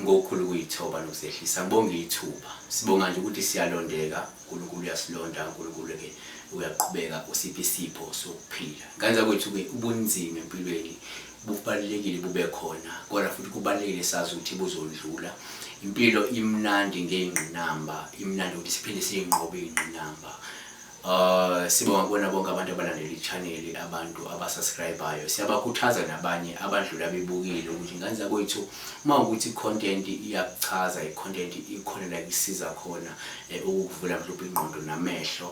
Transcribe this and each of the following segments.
ngokukhulu kuyithoba nokuzehlisa ngibonga ithuba sibonga nje ukuthi siyalondeka uNkulunkulu uyasilonda uNkulunkulu ke uyaqhubeka usiphi isipho sokuphila kanza kwethu ke ubunzima empilweni bubalulekile bube khona kodwa futhi kubalulekile sazi ukuthi buzondlula impilo imnandi ngey'ngqinamba imnandi ukuthi siphinde siyinqobe iy'ngqinamba Uh, sibonga kubona bonke abantu abalandela i-chaneli abantu abasubscribayo siyabakhuthaza nabanye abadlula bebukile ukuthi ngane zakwethu uma ukuthi i-content iyakuchaza i-content ikhona la kusiza khona eh, ukukuvula mhlawumbe ingqondo namehlo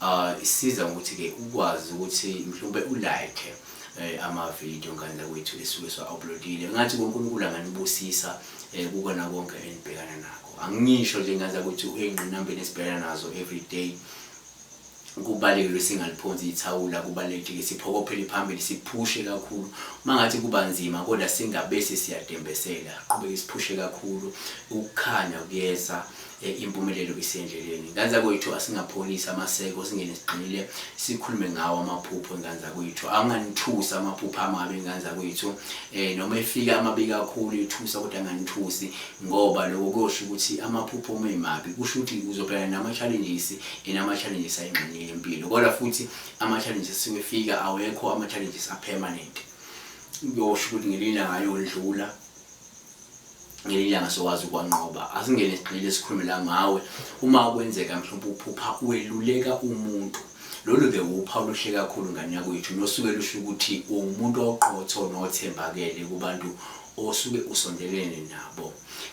uh, isiza ngokuthi-ke ukwazi ukuthi mhlawumbe ulike eh, amavidiyo ngane zakwethu esuke siwa-uploadile ngathi unkulunkulu anganibusisa um kukona konke enibhekana nakho angisho nje ngaza ukuthi uyingqinambeni esibhekana nazo every day kubalekile singaliphonsi ithawula kubalekile siphokophele phambili siphushe kakhulu mangathi kuba nzima kodwa singabese siyadembesela qhubeke siphushe kakhulu ukukhanya kuyeza Eh, impumelelo isendleleni ngane zakwethu asingapholisi amaseko singene siqinile sikhulume ngawo amaphupho engane zakwethu anganithusi amaphupho amabi engane zakwethu eh noma efika amabi kakhulu ithusa kodwa anganithusi ngoba lokho kusho ukuthi amaphupho uma emabi kusho ukuthi uzobhekana nama-challenges and ama-challenges ayingxenye yempilo kodwa futhi ama-challenges siwefika awekho ama-challenges apermanent kuyosho ukuthi ngelinye ilanga ayodlula ngelinye ilanga sokwazi ukwanqoba asingene sigxile sikhulume la ngawe uma kwenzeka mhlawumbe uphupha weluleka umuntu lolu ke wuphawu oluhle kakhulu ngane yakwethu nosuke lusho ukuthi uwumuntu oqotho nothembakele kubantu osuke usondelene nabo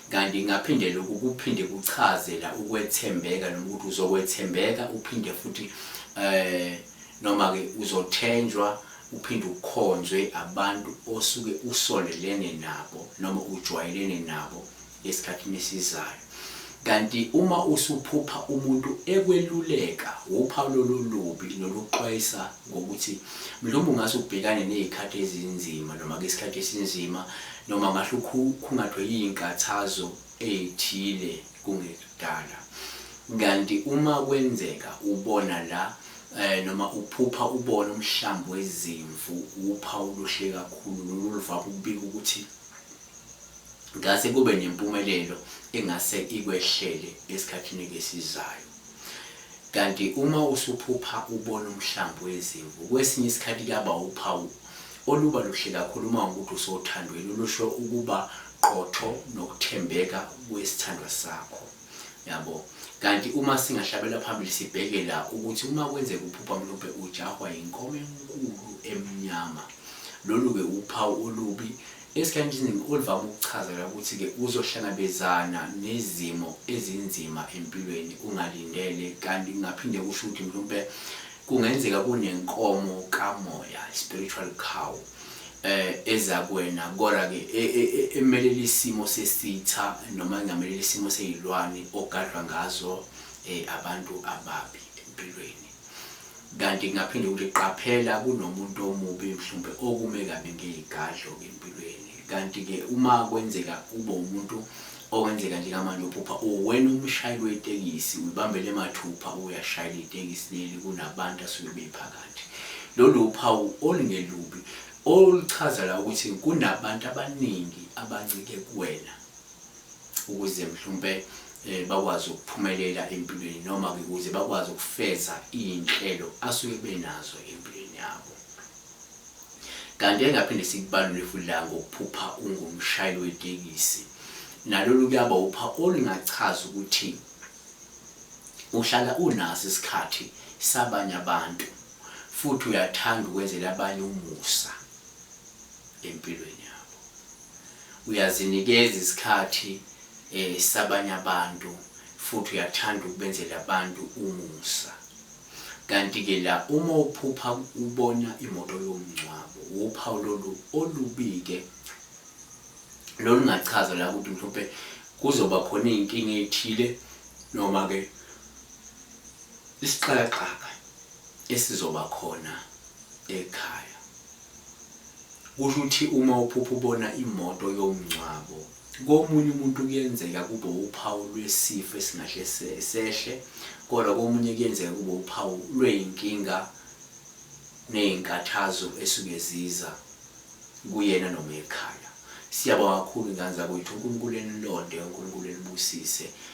kanti ngaphinde lokhu kuphinde kuchazela ukwethembeka noma ukuthi uzokwethembeka uphinde futhi eh Noma-ke uzothenjwa uphinde ukhonzwe abantu osuke usondelene nabo noma ujwayelene nabo esikhathini esizayo. Kanti uma usuphupha umuntu ekweluleka wuphawu lolu lubi noluxwayisa ngokuthi mhlawumbe ungase ubhekane nezikhathi ezinzima noma ke isikhathi esinzima noma ngahle ukhungathwe izinkathazo ezithile kungekudala kanti uma kwenzeka ubona la eh noma uphupha ubona umhlambi wezimvu upha uluhle kakhulu loluva kubika ukuthi ngase kube nempumelelo engase ikwehlele esikhathini esizayo kanti uma usuphupha ubona umhlambi wezimvu kwesinye isikhathi kuyaba uphawu Oluba luhle kakhulu uma ungumuntu usothandweni olusho ukuba qotho nokuthembeka kwesithandwa sakho. Yabo. Kanti uma singahlabela phambili sibheke la ukuthi uma kwenzeka uphupha mhlawumbe ujahwa yinkomo enkulu emnyama. Lolu-ke uphawu olubi esikhathini esiningi oluvame ukuchazela ukuthi-ke uzohlangabezana nezimo ezinzima empilweni ungalindele kanti kungaphinde kusho ukuthi mhlawumbe Kungenzeka kunenkomo kamoya, spiritual cow, eh eza kuwena kodwa ke e, e, e, emelela isimo sesitha noma engamelela isimo seyilwane ogadlwa ngazo eh abantu ababi empilweni kanti kungaphinde ukuthi qaphela kunomuntu omubi mhlawumbe okume kabi ngezigadlo empilweni kanti ke uma kwenzeka ube umuntu Okwenzeka nje kamanje uphupha uwena umshayeli wetekisi uyibambele mathupha uyashayela itekisi leli kunabantu asuke bephakathi. Lolu uphawu olungelubi oluchaza la ukuthi kunabantu abaningi abancike kuwena ukuze mhlawumbe eh, bakwazi ukuphumelela empilweni noma ukuze bakwazi ukufeza iy'nhlelo asuke benazo empilweni yabo. Kanti engaphinde sikubalule futhi la ngokuphupha ungumshayeli wetekisi. Nalolu kuyaba upha olungachaza ukuthi uhlala unaso isikhathi sabanye abantu futhi uyathanda ukwenzela abanye umusa empilweni yabo. Uyazinikeza isikhathi eh sabanye abantu futhi uyathanda ukubenzela abantu umusa. Kanti ke la uma uphupha ubona imoto yomngcwabo wuphawu lolu olubike lolungachaza la ukuthi mhlawumbe kuzoba khona izinkinga ezithile noma ke isixakaxaka esizoba khona ekhaya kusho ukuthi uma uphupha ubona imoto yomngcwabo Komunye umuntu kuyenzeka kube wuphawu lwesifo esingahle sehle, kodwa komunye kuyenzeka kube wuphawu lwey'nkinga ney'nkathazo esuke ziza kuyena noma ekhaya. Siyabonga kakhulu ngane zakwethu, uNkulunkulu enilonde, uNkulunkulu enibusise